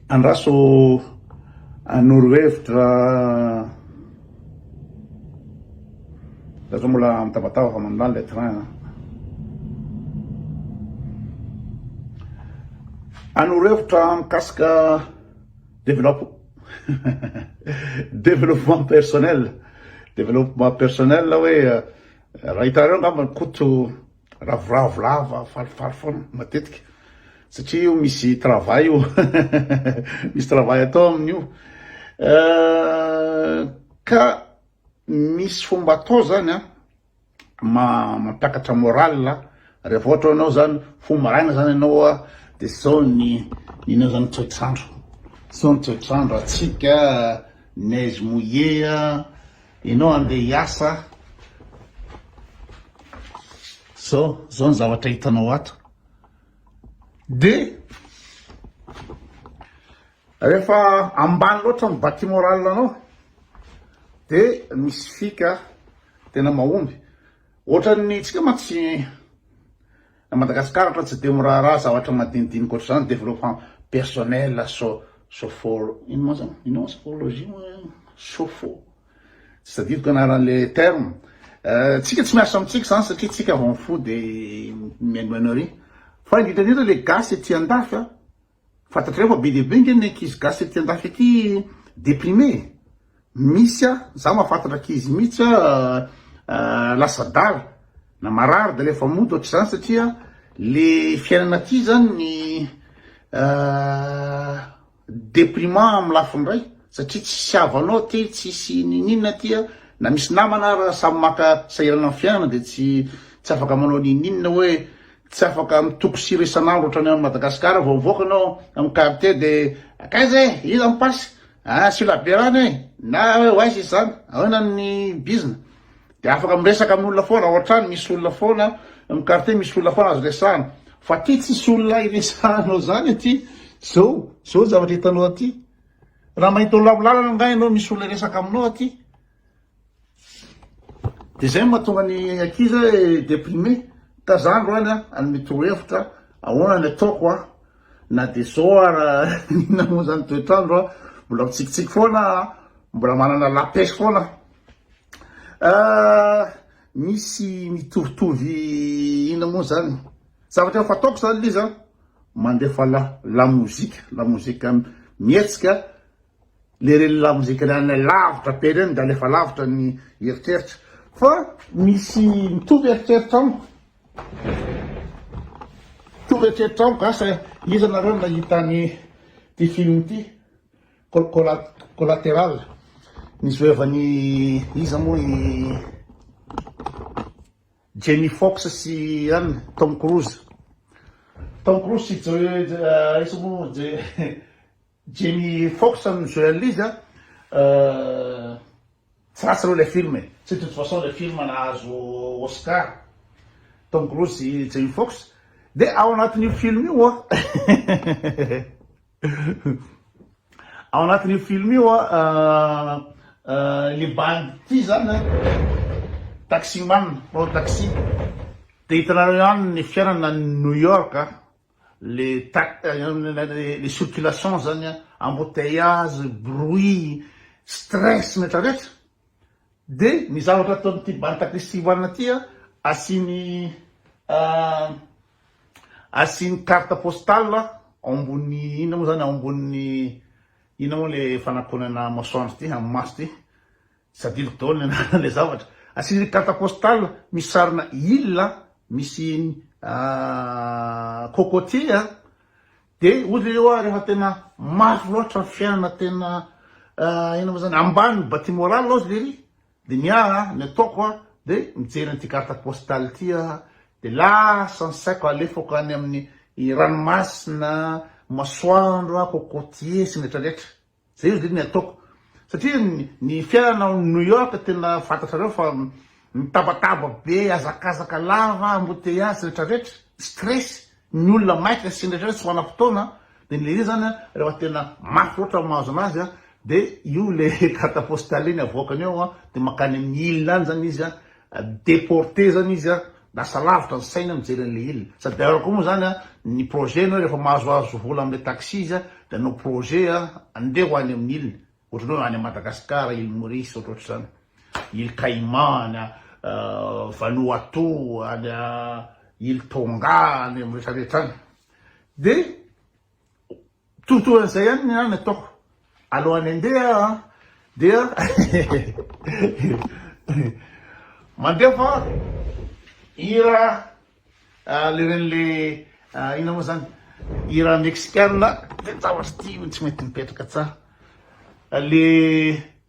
Andraso hanoro hevitra za zao mbola mitabataba fa mandany ilay train a. Hanoro hevitra mikasika develop- développement personnel, développement personnel hoe raha hitanareo angamba Koto Ravoravo lava falifaly foana matetika satria io misy travail io misy travail atao amin'io euh, ka misy fomba atao zany a mampiakatra moral rehefa ohatra anao zany fo maraina zany ianao a de sao ny inao zany toetrandro sao ny toetrandro atsika neige mouillé a Enao andeha hiasa a. Zao, zao ny zavatra hitanao ato. Dia rehefa ambany loatra ny bati moral anao dia misy fika tena mahomby. Ohatran'ny tsika mantsy Na Madagascar ohatra tsy dia miraharaha zavatra madinidinika ohatr'izany, développement personnel, so, sofolo, ino moa zany, ino moa sofologie moa, sofo, tsy tadidiko anaran'le terme, tsika tsy miasa amintsika zany satria tsika vao mifoha dia mihainohaino ary, fa indrindra indrindra le gasy ety andafy a, Fantatrareo fa be dia be nge ny ankizy gasy ety andafy ety deprime e! misy a! za mahafantatra ankizy mihitsy a lasa dala na marary dia alefa mody ohatr'izany satria le fiainana aty zany ny deprimant amin'ny lafiny iray satria tsisy havanao aty, tsisy ninininona aty a! na misy namana ara samy maka sahirana amin'ny fiainana dia tsy afaka manao ninininona hoe Tsy afaka mitoko sira isan'andro otrany any Madagascar vao mivoaka anao amin'ny quartier de akaiza e iza ny passe a asio labiera any e na hoe ho aiza izy zany ahoana ny bizna de afaka miresaka amin'ny olona foana ao antrano misy olona foana amin'ny quartier misy olona foana azo resahana fa aty tsisy olona iresahanao zany aty zao zao zavatra hitanao aty raha mahita olona amin'ny lalana angaha ianao misy olona iresaka aminao aty Dia izay no mahatonga ny ankizy hoe déprimé. Ka za androany an, hanome torohevitra ahoana ny ataoko an, na dia zao ara inona moa zany ny toetr'andro an, mbola mitsikitsiky foana an, mbola manana la pêche foana an, misy mitovitovy inona moa zany, zavatra efa fataoko zany le izy an, mandefa la la musique, la musique mihetsika. le reny lamozika reny any lavitra be reny de alefa lavitra ny eritreritra fa misy mitovy eritreritra amiko mitovy eritreritra amiko asa iza nareo nahita ny ty film ty collateral nizoevany iza moa i Jamie Fox sy an Tom Cruise Tom Cruise sy Joe iza moa Joe Jamie Fox no journalise a, tsy ratsy aloha ilay film e, tsy de toute façon ilay film nahazo Oscar, Tom Cruise sy Jamie Fox, dia ao anatin'io film io a, ao anatin'io film io a, ilay bandy ity izany a, taxi man, mpanao taxi, dia hitanareo ihany ny fiainana any New York a. Le le circulation zany an, embouteillages, bruit, stress rehetra rehetra, de ny zavatra ataon'ity Banta Christiwana ty an, asiany asiany carte postale ao ambony inona moa zany, ao ambony inona moa le fanakonana masoandro ty, amin'ny maso ty. Tsy adinoko daholo ny anaran'ilay zavatra. Asian'ny carte postale misy sarina île misy cocotier a. Dia hoy le hoe rehefa tena mafy loatra ny fiainana tena inona moa zany ambany ny batterie morale hozy lery dia ny ahy a, ny ataoko a dia mijery an'ity carte postale ity aho dia lasa ny saiko alefako any amin'ny ranomasina, masoandro, cocotier sy ny retraretra. Zay anie ny ataoko satria ny fiainana ao New York tena fantatrareo fa mitabataba be, hazakazaka lava, embouteillages retraretra, stress, ny olona maika sy ny retraretra tsy manam-potoana de le izy zany refa tena mafy loatra ny mahazo anazy a de io le carte postale-ny avoakany ao de makany amin'ny ile any zany izy a, deporte zany izy a, Lasa lavitra ny saina mijery an'ilay il. Sady alors koa moa zany ny projet nao rehefa mahazoazo vola amin'ilay taxis dia hanao projet andeha ho any amin'ny il ohatran'ny hoe any Madagascar, il Maurice ohatrohatr'izany, il Caïman, Vanuatu, any il Tonga, any amin'ny rehetrarehetra any dia Tontohan'izay ihany ny ahy no ataoko alohan'ny handeha an, dia mandeha fa hira le reny le inona moa zany hira mexicana de zavatra ity tsy mety mipetraka tsara le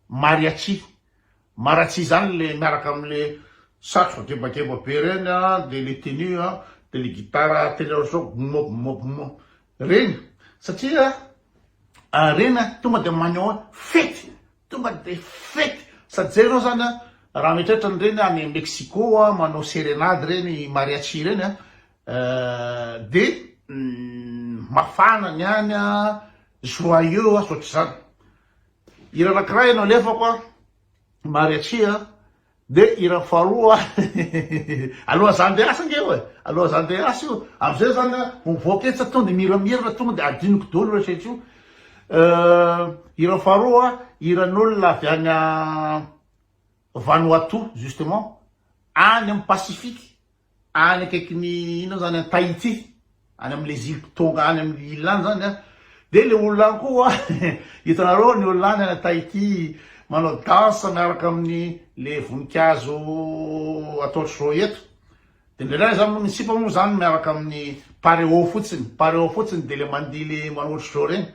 mariachi Maratsy izany le miaraka amle satroka gebageba be reny a, de le tenue a, de le gitara teny aloha sao boum boum boum reny satria reny a tonga de maneho hoe fety, tonga de fety sady zay enao zany a raha mieritreritra an'ireny any Mexico a manao serenade reny mariachi reny a de mafana ny any a, joyeux a, tsy ohatr'izany. Hira anakiray no alefako a, mariachia, de hira faharoa aloha za ndeha hiasa nge io e, aloha za ndeha hiasa io, amzay zany a ho mivoaka etsy tonga de miramirana tonga de adinoko daholo rehetra etsy io, hira faharoa hiran'olona avy any Vanuatu justement, any am Pacifique. any akaikin'ny inona zany any Tahiti any amin'ilay zilipy tonga any amin'ny île any zany an dia ilay olona any koa hitanareo ny olona any any Tahiti manao danse miaraka amin'ny le voninkazo ataotr'i Roy eto dia indraindray izany moa ny sipa moa izany miaraka amin'ny pareo fotsiny pareo fotsiny dia le mandihy le manao ohatr'i Roy reny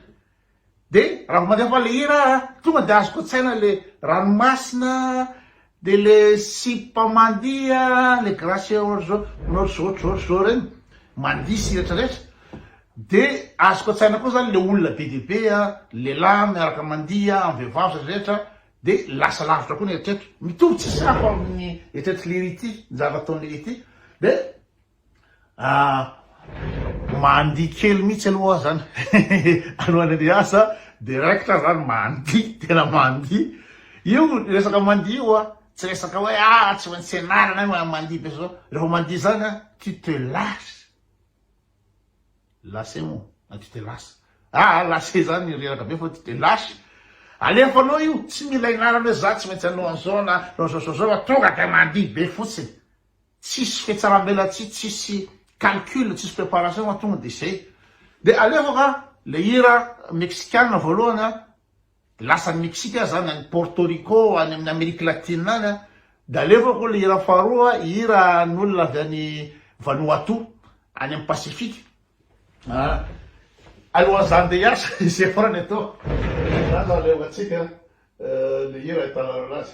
de raha vao mandefa le hira ah, tonga de azoko an-tsaina le ranomasina, de le sipa mandia, le gracia ohatr'zao, manao ohatr'zao ohatr'zao ohatr'zao reny, mandia sy retraretra, de azoko an-tsaina koa zany le olona be dia be a, lehilahy miaraka mandia amin'ny vehivavy sy retraretra, de lasa lavitra koa ny eritreritro, mitovy tsisy hafa amin'ny eritreritry le hira ity, ny zavatra ataon'le hira ity, de Ah mandihy kely mihitsy aloha aho zany anao Andrianirias a, dia raikitra aho zany mandihy, tena mandihy, io resaka mandihy io a, tsy resaka hoe ah tsy maintsy ianarana io a, mandihy be zao, rehefa mandihy zany a, tu te lasse, lasse moa na tu te lasse, ah lasse zany reraka be fa tu te lasse, alefanao io, tsy mila ianarana hoe za tsy maintsy hanao an'zao na hanao an'zao zao zao fa tonga dia mandihy be fotsiny. tsisy fetsaram-belatsihy tsisy calcul tsisy préparation fa tonga de zay de alefa fa le hira mexicana voalohany a lasa any mexique aza zany any porto rico any amin'ny amerique latine any a de alefa ko le hira faharoa hira n'olona avy any vanuatu any amin'ny pacifique a alohan'izany de hiasa izay farany atao zany no alefantsika le hira ahitana an'azy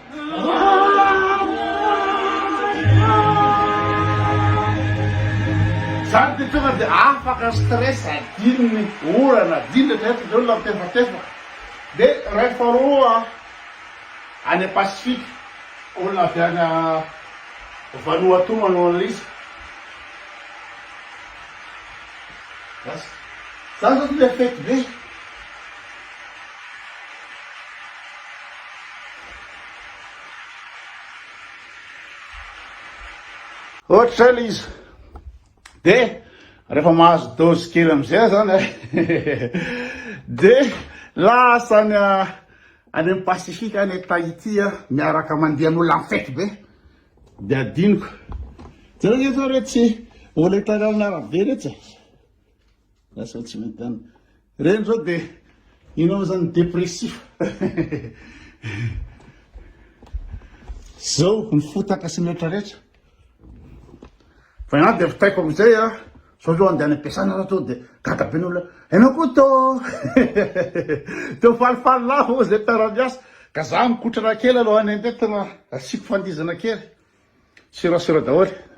Zany de tonga de afaka ny stress adino ny orana adino rehetra rehetra de olona mitefatefaka de iray faharoa any a pacifique olona avy any vanuatu manao anle izy zany zao tonga de fety be Ohatra zay le izy, de rehefa mahazo dose kely amizay aho zany de lasa any any amin'ny Pacifique any Tahiti aho miaraka mandeha an'olona en fety be, de adinoko, jereo nge fa retsy olona hitanao amin'ny arabe retsy e, lasa tsy mitan'ny. Reny zao de inona zany depressif. Zao ny fotaka sy ny rehetra rehetra. Fa ianao dia vitaiko amin'izay a, sao zao andeha any am-piasana anao sao dia gaga be ny olona, ianao koa to teo falifaly lava moa izay tara-miasa, ka za mikotrana kely alohan'ny handeha tena asiako fandihizana kely, serasera daholo.